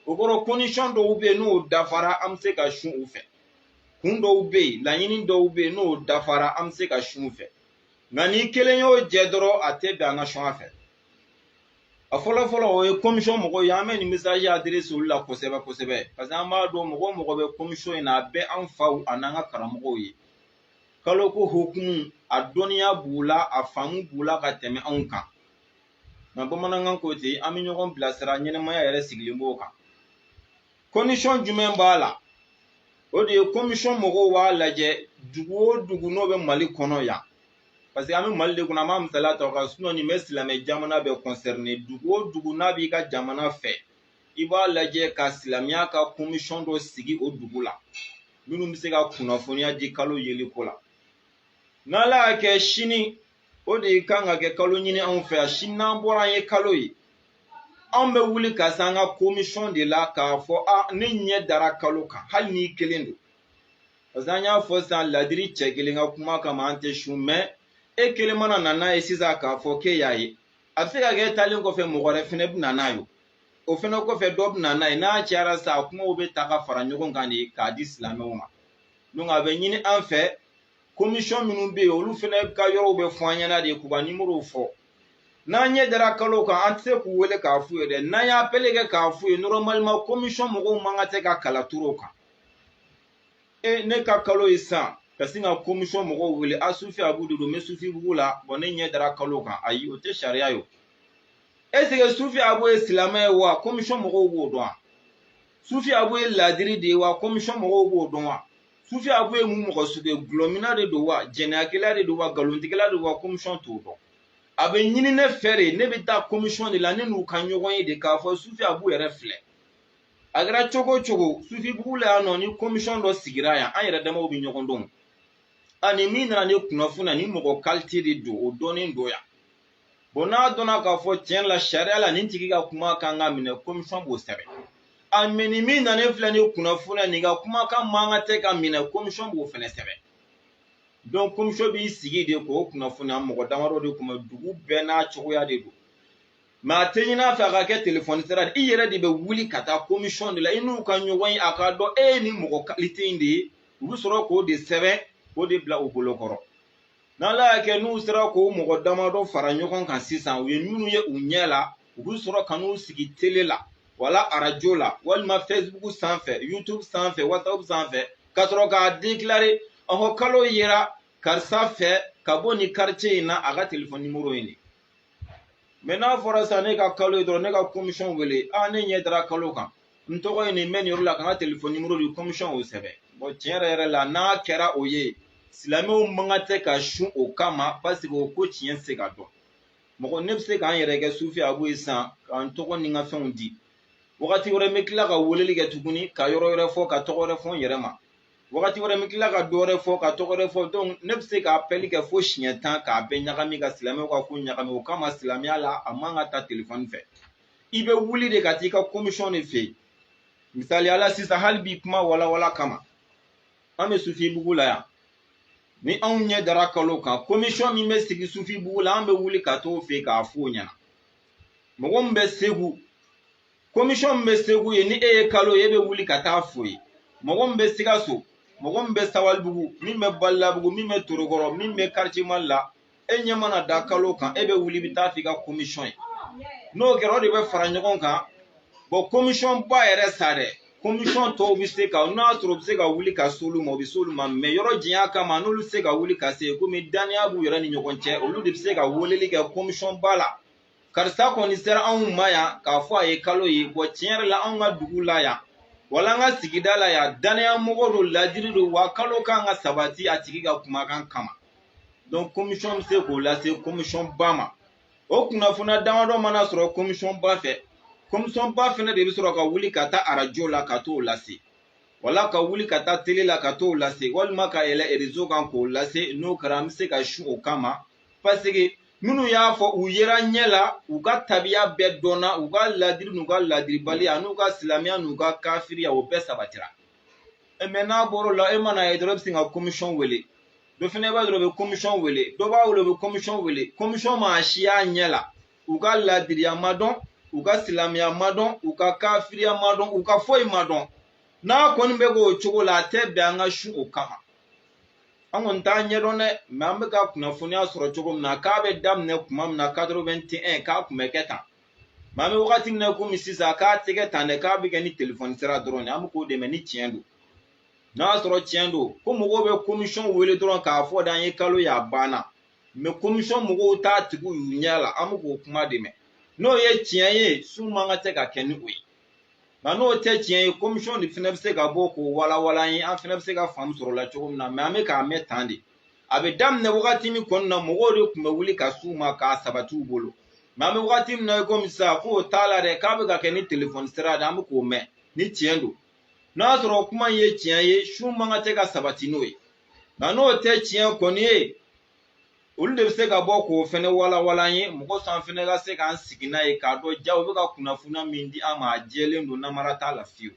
o kɔrɔ condition dɔw bɛ yen n'o dafara an bɛ se ka sun u fɛ kun dɔw bɛ yen laɲini dɔw bɛ yen n'o dafara an bɛ se ka sun u fɛ nka ni kelen y'o jɛ dɔrɔn a tɛ bɛn an ka sun a fɛ a fɔlɔ fɔlɔ o ye komisɔn mɔgɔw ye an bɛ nin mesazi adirese olu la kosɛbɛ kosɛbɛ parce que an b'a dɔn mɔgɔ o mɔgɔ bɛ komisɔn in na a bɛɛ an faw ani an ka karamɔgɔw ye kalo ko hukumu a dɔnniya b'u la a faamu b'u la ka tɛmɛ anw kan nka bamanankan ko ten an bɛ ɲɔgɔn bilasira ɲɛnɛmaya yɛrɛ sigilen b'o kan condition jumɛn b'a la o de ye kɔmisɔn mɔgɔw b'a lajɛ dugu o dugu n'o bɛ mali kɔnɔ yan parce que an bɛ mali de kɔnɔ an b'a misaliya ta a kan sinon nin bɛ silamɛ jamana bɛɛ kɔnsɛrine dugu o dugu n'a b'i ka jamana fɛ i b'a lajɛ ka silamɛya ka kɔmisɔn dɔ sigi o dugu la minnu bɛ se ka kunnafoniya di kalo yeli ko la n'ala y'a kɛ sini o de kan ka kɛ kalo ɲini anw fɛ yan sini n'an bɔra an ye kalo ye anw bɛ wuli ka se an ka komisɔn de la k'a fɔ a ne ɲɛ dara kalo kan hali n'i kelen don parce que an y'a fɔ sisan ladiri cɛ kelen ka kuma kama an tɛ sun mɛ e kelen mana na n'a ye sisan k'a fɔ k'e y'a ye a bɛ se ka kɛ e taalen kɔfɛ mɔgɔ wɛrɛ fɛnɛ bɛ na n'a ye o fɛnɛ kɔfɛ dɔ bɛ na n'a ye n'a cayara sa a kumaw bɛ ta ka fara ɲɔgɔn kan de k'a di silamɛw ma donc a bɛ ɲini an fɛ komisɔn minnu bɛ yen olu fɛnɛ ka yɔrɔw bɛ fɔ an ɲɛna de k'u ka nimorow fɔ n'an ɲɛ dara kalo kan an tɛ se k'u wele k'a f'u ye dɛ n'an y'apɛli kɛ k'a f'u ye normalement commission mɔgɔw man ka tɛ ka kala turu o kan e ne ka kalo ye sisan ka sin ka commission mɔgɔw wele a sufi abu de don n bɛ sufi bugu la bon ne ɲɛ dara kalo kan ayi o tɛ sariya ye o est ce que sufi abu ye silamɛ ye wa commission mɔgɔw b'o dɔn wa sufi abu ye ladiri de ye wa commission mɔgɔw b'o dɔn wa sufi abu ye mun mɔgɔ sugu ye gulɔmina de don wa jɛnɛyakɛla de don wa nkalontigɛla de don wa komisɔn t'o dɔn a bɛ ɲini ne fɛ de ne bɛ taa komisɔn de la ne n'u ka ɲɔgɔn ye de k'a fɔ sufi abu yɛrɛ filɛ a kɛra cogo o cogo sufi bugu la yan nɔ ni komisɔn dɔ sigira yan an yɛrɛ damaw bɛ ɲɔgɔn dɔn ani min nana ni kunnafoniya nin mɔgɔ kalite de don o dɔnnen don yan bon n'a dɔnna k'a fɔ tiɲɛ la sariya la nin tigi ka kuma kan ka minɛ komisɔn b'o sɛbɛn a mɛ nin min nalen filɛ ni kunnafoniya nin ka kumakan man ka tɛ ka minɛ komisɔn b'o fɛnɛ sɛbɛn donc komisɔn b'i sigi de k'o kunnafoniya mɔgɔ damadɔ de kunbɛn dugu bɛɛ n'a cogoya de don mɛ a tɛ ɲin'a fɛ a ka kɛ telefɔni sira de i yɛrɛ de bɛ wuli ka taa komisɔn de la i n'u ka ɲɔgɔn ye a k'a dɔn e ye nin mɔgɔ kalite in de ye u bɛ sɔrɔ k'o de sɛbɛn k'o de bila u bolo kɔrɔ n'ala y'a kɛ n'u sera k'o mɔgɔ damadɔ fara ɲɔgɔn kan sisan u ye minnu ye u ɲɛ la u bɛ sɔrɔ ka n'u sigi tele la wala arajo la walima facebook sanfɛ youtube sanfɛ whatsapp sanfɛ ka sɔrɔ k'a dekilare ɔhɔ kalo yera karisa fɛ ka bɔ ni karice in na a ka telefɔni nimoro ye nin mɛ n'a fɔra sisan ne ka kalo ye dɔrɔn ne ka komisɔn wele a ne ɲɛ dara kalo kan n tɔgɔ ye nin n bɛ nin yɔrɔ la ka n ka telefɔni nimoro di komisɔn y'o sɛbɛn bɔn tiɲɛ yɛrɛ yɛrɛ la n'a kɛra o ye silamɛw man ka tɛ ka sun o kama paseke o ko tiɲɛ tɛ se ka dɔn mɔgɔ ne bɛ se ka n yɛrɛ kɛ sufi abu ye sisan ka n tɔgɔ ni n ka fɛnw di wagati wɛrɛ n bɛ tila ka weleli kɛ tuguni ka yɔrɔ wɛrɛ fɔ ka tɔgɔ wɛrɛ fɔ n yɛrɛ ma wagati wɛrɛ n bɛ tila ka dɔ wɛrɛ fɔ ka tɔgɔ wɛrɛ fɔ donc ne bɛ se ka apɛli kɛ fo siɲɛ tan k'a bɛɛ ɲagami ka silamɛw ka ko ɲagami o kama silamɛya la a man ka ta telefɔni fɛ i bɛ wuli de ka t'i ka komisɔn de fɛ yen misaliya la sisan hali bi kuma walawala kama an bɛ sufibugu la yan ni anw ɲɛ dara kalo kan komisɔn min bɛ sigi sufibugu la an bɛ wuli ka t'o fɛ yen k'a f'o ɲɛna mɔgɔ min bɛ segu komisɔn min bɛ segu yen ni e ye kalo ye e bɛ wuli ka taa f'o ye mɔgɔ min bɛ sikaso mɔgɔ min bɛ sabalibugu min bɛ balilabugu min bɛ torokɔrɔ min bɛ karice mali la e ɲɛ mana da kalo kan e bɛ wuli bɛ taa f'i ka komisɔn ye n'o kɛra o de bɛ fara ɲɔgɔn kan bɔn komisɔn ba yɛrɛ sa dɛ komisɔn tɔw bɛ se ka n'a sɔrɔ u bɛ se ka wuli ka s'olu ma u bɛ s'olu ma mɛ yɔrɔ janya kama n'olu tɛ se ka wuli ka se komi dannaya b'u yɛrɛ ni ɲɔgɔn cɛ olu de bɛ se ka weleli kɛ komisɔn ba la karisa kɔni sera anw ma yan k'a fɔ a ye kalo ye bɔn tiɲɛ yɛrɛ la anw ka dugu la yan wala an ka sigida la yan dannaya mɔgɔ don ladiri don wa kalo kan ka sabati a tigi ka kumakan kama donc komisɔn bɛ se k'o lase komisɔn ba ma o kunnafoniya damadɔ mana sɔrɔ komisɔn ba fɛ komisɔn ba fɛnɛ de bɛ sɔrɔ ka wuli ka taa arajo la ka t'o lase wala ka wuli ka taa tele la ka t'o lase walima ka yɛlɛ erezo kan k'o lase n'o kɛra an bɛ se ka sun o kama paseke minnu y'a fɔ u yera ɲɛ la u ka tabiya bɛɛ dɔnna u ka ladiri n'u ka ladiribaliya n'u ka silamɛya n'u ka kafiriya o bɛɛ sabatira e, mɛ n'a bɔr'o la e man'a ye dɔrɔn e bɛ sin ka komisɔn wele dɔ fɛnɛ b'a dɔrɔn u bɛ komisɔn wele dɔ b'a wele o bɛ komisɔn wele komisɔn m'a si y'a ɲɛ la u ka ladiriya ma dɔn u ka silamɛya ma dɔn u ka kafiriya ma dɔn u ka foyi ma dɔn n'a kɔni bɛ k'o cogo la a tɛ bɛn an ka sun o kama an kɔni t'a ɲɛdɔn dɛ mɛ an bɛ ka kunnafoniya sɔrɔ cogo min na k'a bɛ daminɛ kuma min na quatre-vingt-un k'a kun bɛ kɛ tan mɛ an bɛ wagati min na komi sisan k'a tɛ kɛ tan dɛ k'a bɛ kɛ ni telefɔni sira dɔrɔn de an bɛ k'o de mɛn ni tiɲɛ don n'a sɔrɔ tiɲɛ don ko mɔgɔw bɛ komisɔn wele dɔrɔn k'a fɔ de an ye kalo ye a banna mɛ komisɔn mɔgɔw t'a tigiw y'u ɲɛ la an bɛ k'o kuma de mɛn n'o ye tiɲɛ ye sun man ka tɛ ka kɛ ni o ye nka n'o tɛ tiɲɛ ye komisɔn de fana bɛ se ka bɔ k'o walawala an ye an fana bɛ se ka faamu sɔrɔ o la cogo min na mɛ an bɛ k'a mɛn tan de a bɛ daminɛ wagati min kɔnɔna na mɔgɔw de tun bɛ wuli ka s'u ma k'a sabati u bolo mɛ an bɛ wagati min na i komi sisan k'o t'a la dɛ k'a bɛ ka kɛ ni telefɔni sira de an bɛ k'o mɛn ni tiɲɛ don n'a sɔrɔ kuma in ye tiɲɛ ye sun man ka tɛ ka sabati n'o ye nka n'o tɛ tiɲɛ kɔni ye olu de bɛ se ka bɔ k'o fɛnɛ walawala an ye mɔgɔ sa an fɛnɛ ka se k'an sigi n'a ye k'a dɔn ja u bɛ ka kunnafoniya min di an ma a jɛlen don namara t'a la fiyewu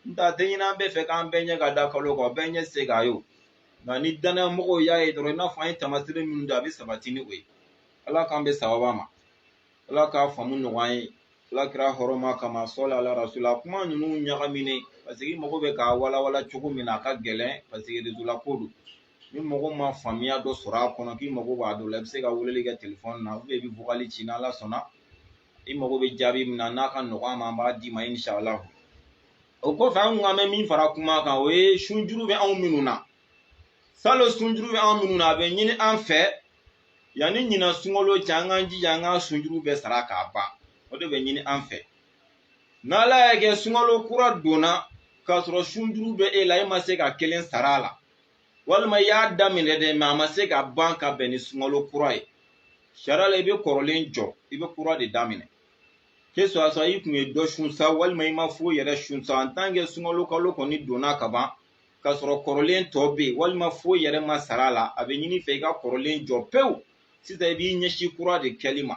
n tɛ a tɛ ɲini an bɛɛ fɛ k'an bɛɛ ɲɛ ka da kalo kan bɛɛ ɲɛ se k'a ye o nka ni danaya mɔgɔw y'a ye dɔrɔn i n'a fɔ an ye taamaseere minnu di a bɛ sabati ni o ye ala k'an bɛn sababa ma ala k'a faamu nɔgɔya an ye ala kira hɔrɔma kama sɔli ala rasula kuma ninnu ɲagaminen paseke i mago bɛ k'a walawala cogo min na a ka gɛlɛn paseke rezo la ko don ni mɔgɔ ma faamuya dɔ sɔrɔ a kɔnɔ k'i mago b'a dɔ la i bɛ se ka weleli kɛ telefɔni na i bɛ vokali ci n'ala sɔnna i mago bɛ jaabi min na n'a ka nɔgɔn an ma an b'a d'i ma inshala o kɔfɛ an kun an bɛ min fara kuma kan o ye sunjuru bɛ anw minnu na salon sunjuru bɛ anw minnu na a bɛ ɲini an fɛ yanni ɲinan sunkalo cɛ an k'an jija an ka sunjuru bɛɛ sara k'a ban o de bɛ ɲini an fɛ n'ala y'a kɛ sunkalo kura donna k'a sɔrɔ sunjuru bɛ e la e ma se ka kelen sara a la walima i y'a daminɛ dɛ mɛ a ma se ka ban ka bɛn ni sunkalo kura ye sariya la i bɛ kɔrɔlen jɔ i bɛ kura de daminɛ ke suwa i kun ye dɔ sun sa walima i ma foyi yɛrɛ sun sa an tan ke sunkalo kalo kɔni donna ka ban k'a sɔrɔ kɔrɔlen tɔ bɛ yen walima foyi yɛrɛ ma sara a la a bɛ ɲini i fɛ i ka kɔrɔlen jɔ pewu sisan i b'i ɲɛsin kura de kɛli ma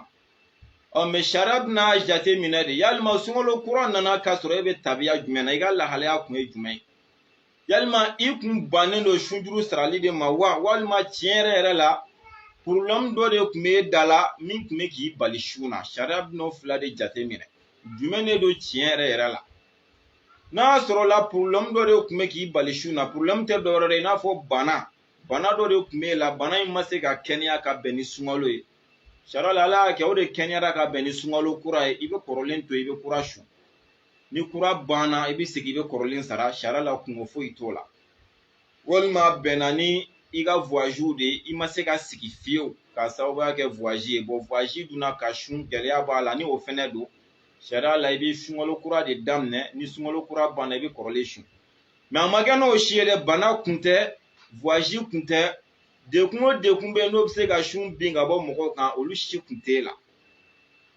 ɔ mɛ sariya bɛna jate minɛ de yalima sunkalo kura nana k'a sɔrɔ e bɛ tabiya jumɛn na i ka lahalaya kun ye jumɛn ye yalima i kun bannen don sunjuru sarali de ma wa walima tiɲɛ yɛrɛ yɛrɛ la porobilɛmu dɔ de kun bɛ e da la min kun bɛ k'i bali sun na sariya bɛna o fila de jate minɛ jumɛn de don tiɲɛ yɛrɛ yɛrɛ la n'a sɔrɔla porobilɛmu dɔ de kun bɛ k'i bali sun na porobilɛmu tɛ dɔwɛrɛ ye i n'a fɔ bana bana dɔ de kun b'e la bana in ma se ka kɛnɛya ka bɛn ni sunkalo ye sariya la ala y'a kɛ o de kɛnɛyara ka bɛn ni sunkalo kura ye i bɛ kɔrɔlen to i bɛ kura sun ni kura banna i bɛ segin i bɛ kɔrɔlen sara sariya la kunko foyi t'o la walima bɛnna ni i ka vuwaziw de ye i ma se ka sigi fiyewu k'a sababuya kɛ vuwazi ye bɔn vuwazi dun na ka sun gɛlɛya b'a la ni o fɛnɛ don sariya la i bɛ sunkalo kura de daminɛ ni sunkalo kura banna i bɛ kɔrɔlen sun mɛ a ma kɛ n'o si ye dɛ bana kun tɛ vuwazi kun tɛ degun o degun bɛ n'o bɛ se ka sun bin ka bɔ mɔgɔw kan olu si kun t'e la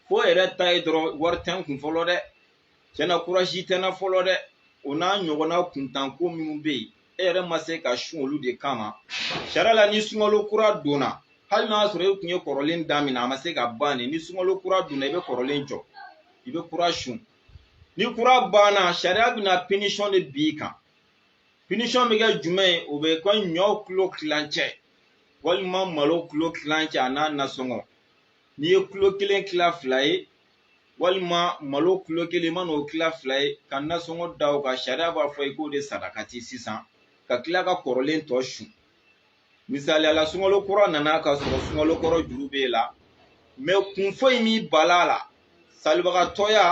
fo yɛrɛ ta ye dɔrɔn wari tɛ n kun fɔlɔ dɛ tiɲɛna kurasi tɛ n na fɔlɔ dɛ o n'a ɲɔgɔnna kuntanko minnu bɛ yen e yɛrɛ ma se ka sun olu de kama sariya la ni sunkalo kura donna hali n'a sɔrɔ e kun ye kɔrɔlen daminɛ a ma se ka ban de ni sunkalo kura donna i bɛ kɔrɔlen jɔ i bɛ kura sun ni kura banna sariya bɛna pinisɔn de bin i kan pinisɔn bɛ kɛ jumɛn ye o bɛ kɛ ɲɔ kilo kilancɛ walima malo kilo kilancɛ a n'a nasɔngɔ n'i ye kilo kelen kila fila ye walima malo kulo kelen ma n'o tila fila ye ka nasɔngɔ da o kan sariya b'a fɔ i k'o de sarakati sisan ka tila ka kɔrɔlen tɔ sun misaliya la sunkalo kura nana ka sɔrɔ sunkalo kɔrɔ juru b'e la mɛ kun foyi m'i bal'a la salibagatɔya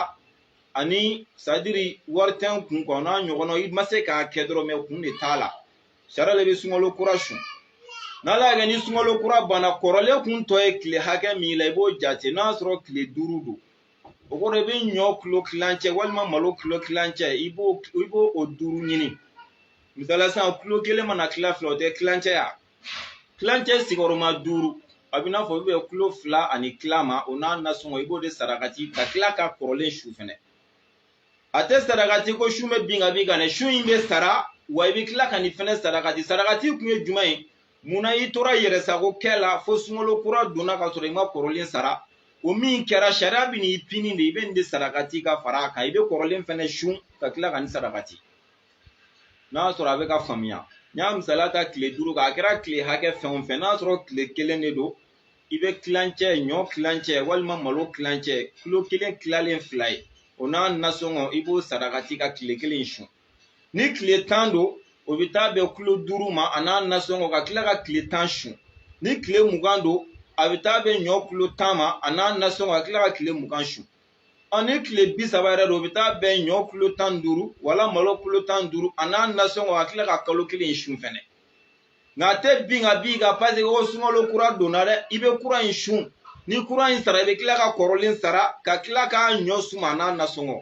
ani sadiri wari tɛ n kun ko n'a ɲɔgɔnna i ma se k'a kɛ dɔrɔn mɛ kun de t'a la sariya la i bɛ sunkalo kura sun n'ala y'a kɛ ni sunkalo kura banna kɔrɔlen kun tɔ ye tile hakɛ min la i b'o jate n'a sɔrɔ tile duuru don o kɔrɔ i bɛ ɲɔ kilo kilancɛ walima malo kilo kilancɛ i b'o o duuru ɲini misaliya sisan kilo kelen mana kila fila o tɛ kilancɛ ya kilancɛ sigiyɔrɔma duuru a bɛ n'a fɔ o bɛ bɛn kilo fila ani tila ma o n'a nasɔngɔ i b'o de sarakati ka tila ka kɔrɔlen sun fɛnɛ a tɛ sarakati ko sun bɛ bin ka b'i kan dɛ sun in bɛ sara wa i bɛ tila ka nin fɛnɛ sarakati sarakati kun ye jumɛn ye munna i tora i yɛrɛ sago kɛ la fo sunkalo kura donna ka sɔrɔ i ma kɔrɔlen sara o min kɛra sariya bɛ n'i pini de i bɛ nin de sarakati ka fara a kan i bɛ kɔrɔlen fɛnɛ sun ka tila ka nin sarakati n'a sɔrɔ a bɛ k'a faamuya n y'a misaliya ta tile duuru kan a kɛra tile hakɛ fɛn o fɛn n'a sɔrɔ tile kelen de don i bɛ tilancɛ ɲɔ tilancɛ walima malo tilancɛ kilo kelen tilalen fila ye o n'a nasɔngɔ i b'o sarakati ka tile kelen sun ni tile tan don o bɛ taa bɛn kilo duuru ma a n'a nasɔngɔ ka tila ka tile tan sun ni tile mugan don a bɛ taa bɛn ɲɔ kilo tan ma a n'a nasɔngɔ ka tila ka tile mugan sun ɔ ni tile bi saba yɛrɛ don o bɛ taa bɛn ɲɔ kilo tan duuru wala malo kilo tan duuru a n'a nasɔngɔ ka tila ka kalo kelen sun fɛnɛ nka a tɛ bin ka b'i kan paseke o sunkalo kura donna dɛ i bɛ kura in sun ni kura in sara i bɛ tila ka kɔrɔlen sara ka tila k'a ɲɔ suma n'a nasɔngɔ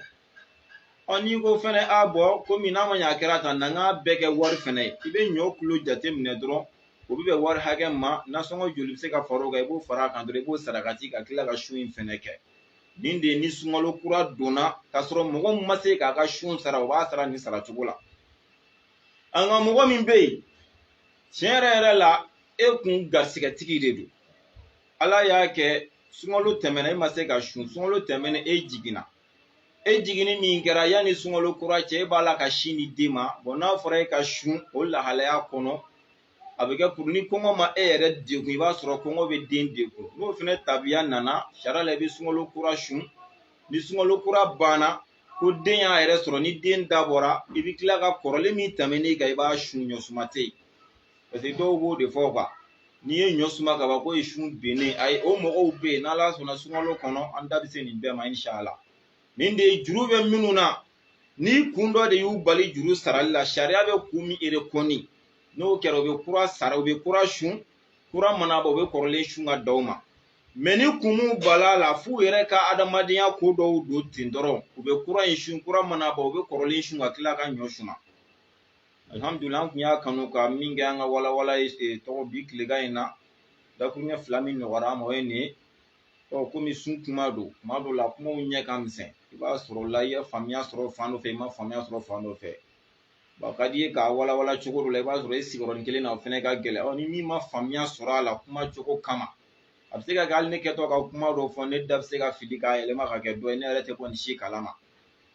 ɔ n'i ko fɛnɛ a bɔn komi n'a ma ɲɛ a kɛra tan na n k'a bɛɛ kɛ wari fɛnɛ ye i bɛ ɲɔ kulo jate minɛ dɔrɔn o bɛ bɛn wari hakɛ ma nasɔngɔ joli bɛ se ka fara o kan i b'o fara a kan dɔrɔn i b'o sarakati ka tila ka sun in fɛnɛ kɛ nin de ye ni sunkalo kura donna k'a sɔrɔ mɔgɔ min ma se k'a ka sun sara o b'a sara nin sara cogo la an ka mɔgɔ min bɛ yen tiɲɛ yɛrɛ yɛrɛ la e kun garisigɛtigi de don ala y'a kɛ sunkalo tɛmɛna e ma se ka sun sunkalo tɛmɛna e jiginna e jiginni min kɛra yanni sunkalo kura cɛ e b'a la ka sin di den ma bɔn n'a fɔra e ka sun o lahalaya kɔnɔ a bɛ kɛ puru ni kɔngɔ ma e yɛrɛ degun i b'a sɔrɔ kɔngɔ bɛ den degun n'o fana tabiya nana sariya la i bɛ sunkalo kura sun ni sunkalo kura banna ko den y'a yɛrɛ sɔrɔ ni den da bɔra i bɛ tila ka kɔrɔlen min tɛmɛn'i kan i b'a sun ɲɔ suma tɛ yen paseke dɔw b'o de fɔ kuwa n'i ye ɲɔ suma ka ban k'o ye sun binnen ayi o mɔgɔw bɛ yen n'ala sɔnna sunkalo kɔnɔ an da bɛ se nin bɛɛ ma inshala nin de ye juru bɛ minnu na ni kun dɔ de y'u bali juru sarali la sariya bɛ kun min erekɔni n'o kɛra u bɛ kura sara u bɛ kura sun kura mana ban u bɛ kɔrɔlen sun ka da o ma mɛ ni kun b'u bolo a la f'u yɛrɛ ka adamadenya ko dɔw don ten dɔrɔn u bɛ kura in sun kura mana bɔ u bɛ kɔrɔlen sun ka tila ka ɲɔ suma alihamudulila an tun y'a kanu ka min kɛ an ka walawala ye eh, tɔgɔ bi tilegan in na dakuruɲɛ fila min nɔgɔyara an ma o ye nin ye ɔ komi sun kuma don kuma dɔw la kumaw ɲɛ ka misɛn i b'a sɔrɔ la i ye faamuya sɔrɔ fan dɔ fɛ i ma faamuya sɔrɔ fan dɔ fɛ a ka d'i ye k'a walawala cogo dɔ la i b'a sɔrɔ i sigiyɔrɔnin kelen na o fɛnɛ ka gɛlɛn ɔ ni min ma faamuya sɔrɔ a la kuma cogo kama a bɛ se ka kɛ hali ne kɛtɔ ka kuma dɔ fɔ ne da bɛ se ka fili k'a yɛlɛma ka kɛ dɔ ye ne yɛrɛ tɛ kɔni si kalama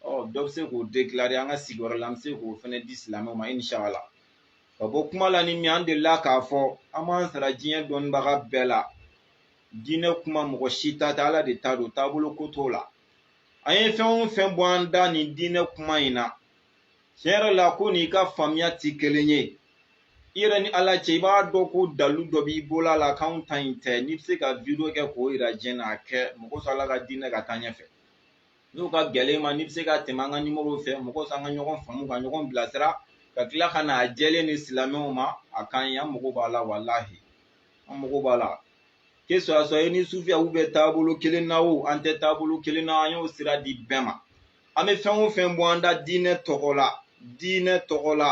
ɔ dɔ bɛ se k'o dekilare an ka sigiyɔrɔ la an bɛ se k'o fɛnɛ di silamɛw ma inshallah ka bɔ kuma la ni min an delila k'a fɔ an b'an sara diɲɛ dɔnnibaga bɛɛ la diinɛ kuma mɔgɔ si ta tɛ ala de ta don taabolo ko t'o la an ye fɛn o fɛn bɔ an da nin diinɛ kuma in na tiɲɛ yɛrɛ la k'o n'i ka faamuya tɛ kelen ye i yɛrɛ ni ala cɛ i b'a dɔn ko dalu dɔ b'i bolo a la k'anw ta in tɛ n'i bɛ se ka video kɛ k'o yira diɲɛ na a kɛ mɔgɔ sɔrɔ ala ka diinɛ ka taa ɲɛfɛ n'o ka gɛlɛn i ma n'i bɛ se ka tɛmɛ an ka nimoro fɛ mɔgɔ sɔrɔ an ka ɲɔgɔn faamu ka ɲɔgɔn bilasira ka tila ka na a jɛlen di silamɛw ma a ka ɲi an mago b'a la walahi an mago b'a la que ce soit i ni sufiyaw bɛ taabolo kelen na o an tɛ taabolo kelen na an y'o sira di bɛɛ ma an bɛ fɛn o fɛn bɔ an da diinɛ tɔgɔ la diinɛ tɔgɔ la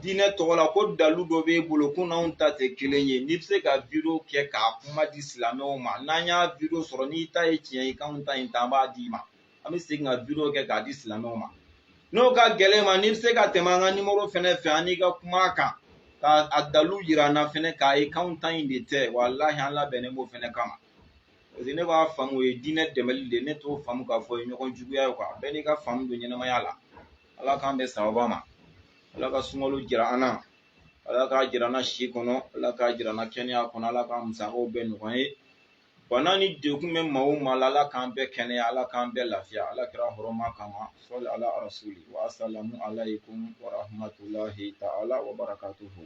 diinɛ tɔgɔ la ko dalu dɔ b'e bolo k'o n'anw ta tɛ kelen ye n'i bɛ se ka video kɛ k'a kuma di silamɛw ma n'an y'a video sɔrɔ n'i ta ye tiɲɛ ye k'anw ta in tɛ an b'a d'i ma an bɛ segin ka video kɛ k'a di silamɛw ma n'o ka gɛlɛn i ma n'i bɛ se ka tɛmɛ an ka nimoro fɛnɛ fɛ an n'i ka kuma a kan k'a dalu yira an na fɛnɛ k'a ye k'anw ta in de tɛ walahi an labɛnnen b'o fɛnɛ kama paseke ne b'a faamu o ye diinɛ dɛmɛli de ye ne t'o faamu k'a fɔ o ye ɲɔgɔn juguya ye kuwa bɛɛ n'i ka faamu don ɲɛnamaya la ala k'an bɛn sababa ma ala ka sunkalo jira an na ala k'a jira an na si kɔnɔ ala k'a jira an na kɛnɛya kɔnɔ ala k'a musakaw bɛɛ nɔgɔya an ye bana ni degun bɛ maa o maa la ala k'an bɛɛ kɛnɛya ala k'an bɛɛ lafiya ala kira hɔrɔma kama sɔli ala rasuli wa asalamu alaykum wa rahmatulahi ta'ala wa barakatuhu